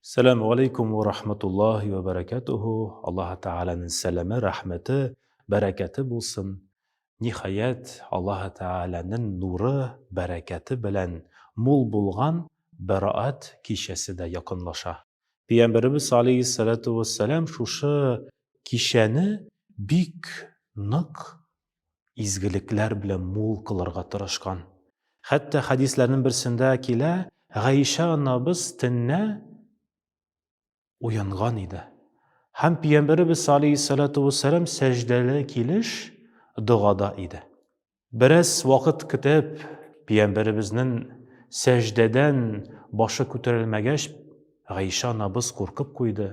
Сәләму алейкум ва рахматуллахи ва баракатуху. Аллаһ Тәгаләнең сәламе, рәхмәте, бәрәкәте булсын. Ниһаять, Аллаһ Тәгаләнең нуры, бәрәкәте белән мул булган Бәраәт кичәсе дә якынлаша. Пәйгамбәребез алейһиссәләтү вәссәлам шушы кичәне бик нык изгелекләр белән мул кылырга тырышкан. Хәтта хәдисләрнең берсендә килә, Гайшә анабыз төннә уянган иде. Һәм Пиямбәребез алейһиссалату вассалам сәҗдәле килеш догада иде. Бераз вакыт көтеп, Пиямбәребезнең сәҗдәдән башы күтәрелмәгәч, Гайшә анабыз куркып куйды.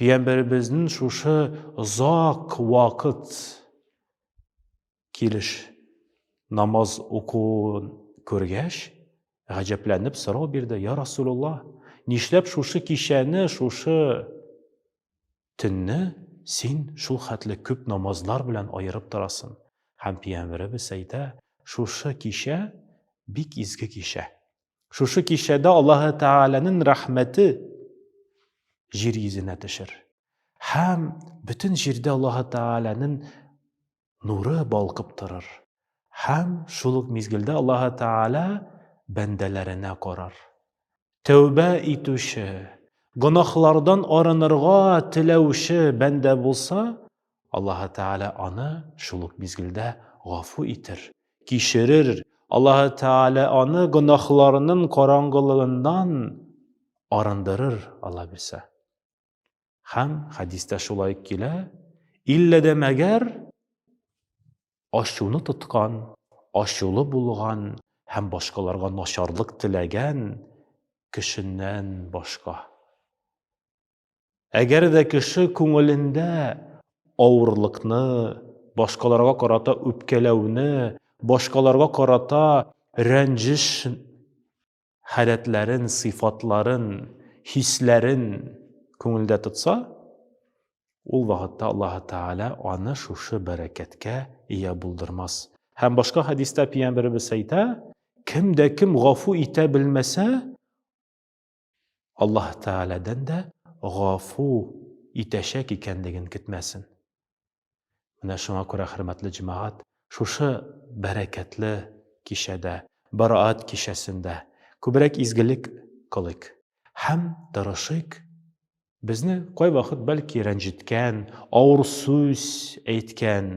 Пиямбәребезнең шушы озак вакыт килеш намаз укуын күргәч, гаҗәпләнеп сорау бирде, «Я Расулулла, нишләп шушы кичәне, шушы төнне син шул хәтле күп намазлар белән аерып торасың?» Һәм Пиямбәребез әйтә, «Шушы кичә бик изге кичә. Шушы кичәдә Аллаһы Тәгаләнең рәхмәте җир йөзенә төшер. Һәм бөтен җирдә Аллаһы Тәгаләнең нуры балкып торыр. Һәм шул ук мизгелдә Аллаһы Тәгалә бәндәләренә карар. Тәүбә итүче, гөнаһлардан арынырга теләүче бәндә булса, Аллаһы Тәгалә аны шул ук мизгелдә гафу итер, кичерер. Аллаһы Тәгалә аны гөнаһларының караңгылыгыннан арындырыр, Алла бирсә. Һәм хәдистә шулай килә, иллә дә мәгәр ачуны тоткан, ачулы булган һәм башкаларга начарлык теләгән кешеннән башка. Әгәр дә кеше күңелендә авырлыкны, башкаларга карата үпкәләүне, башкаларга карата рәнҗеш халәтләрен, сыйфатларын, хисләрен күңелдә тотса, ул вакытта Аллаһ Тәгалә аны шушы бәрәкәткә ия булдырмас. Һәм башка хәдистә пиямбәребез әйтә, кем дә кем гафу итә белмәсә, Аллаһ Тәгаләдән дә гафу итәчәк икәнлеген көтмәсен. Менә шуңа күрә, хөрмәтле җәмәгать, шушы бәрәкәтле кичәдә, Бараат кичәсендә күбрәк изгелек кылыйк һәм тырышыйк безне кайвакыт, бәлки, рәнҗеткән, авыр сүз әйткән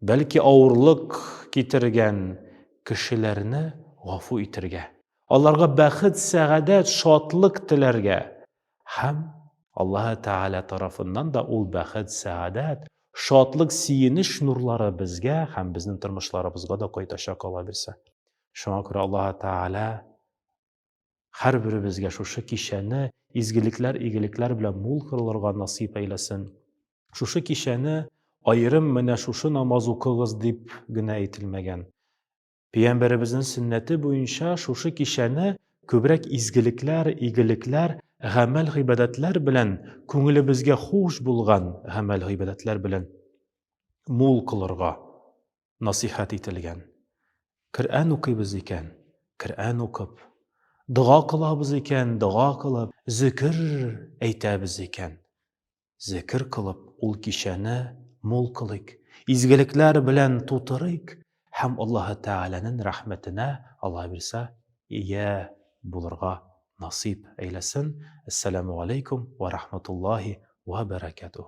бәлки авырлык китергән кешеләрне гафу итергә, аларга бәхет, сәгадәт, шатлык теләргә һәм Аллаһы Тәгалә тарафыннан да ул бәхет, сәгадәт, шатлык, сөенеч нурлары безгә һәм безнең тормышларыбызга да кайтачак, алабирсә. Шуңа күрә Аллаһы Тәгалә Һәрберебезгә шушы кичәне изгелекләр, игелекләр белән мул кылырга насыйп әйләсен. Шушы кичәне аерым менә шушы намаз укыгыз дип генә әйтелмәгән. Пәйгамбәребезнең сөннәте буенча шушы кичәне күбрәк изгелекләр, игелекләр, гамәл гыйбадәтләр белән, күңелебезгә хуш булган гамәл гыйбадәтләр белән мул кылырга насыйхәт ителгән. Коръән укыйбыз икән, Коръән укып, дога кылабыз икән, дога кылып, зөкер әйтәбез икән, зөкер кылып, ул кичәне мул кылыйк, изгелекләр белән тутырыйк һәм Аллаһы Тәгаләнең рәхмәтенә, Алла бирсә, ия булырга насыйп әйләсен. Әссәламү галәйкүм вә рахматуллаһи вә бәрәкәтүһ.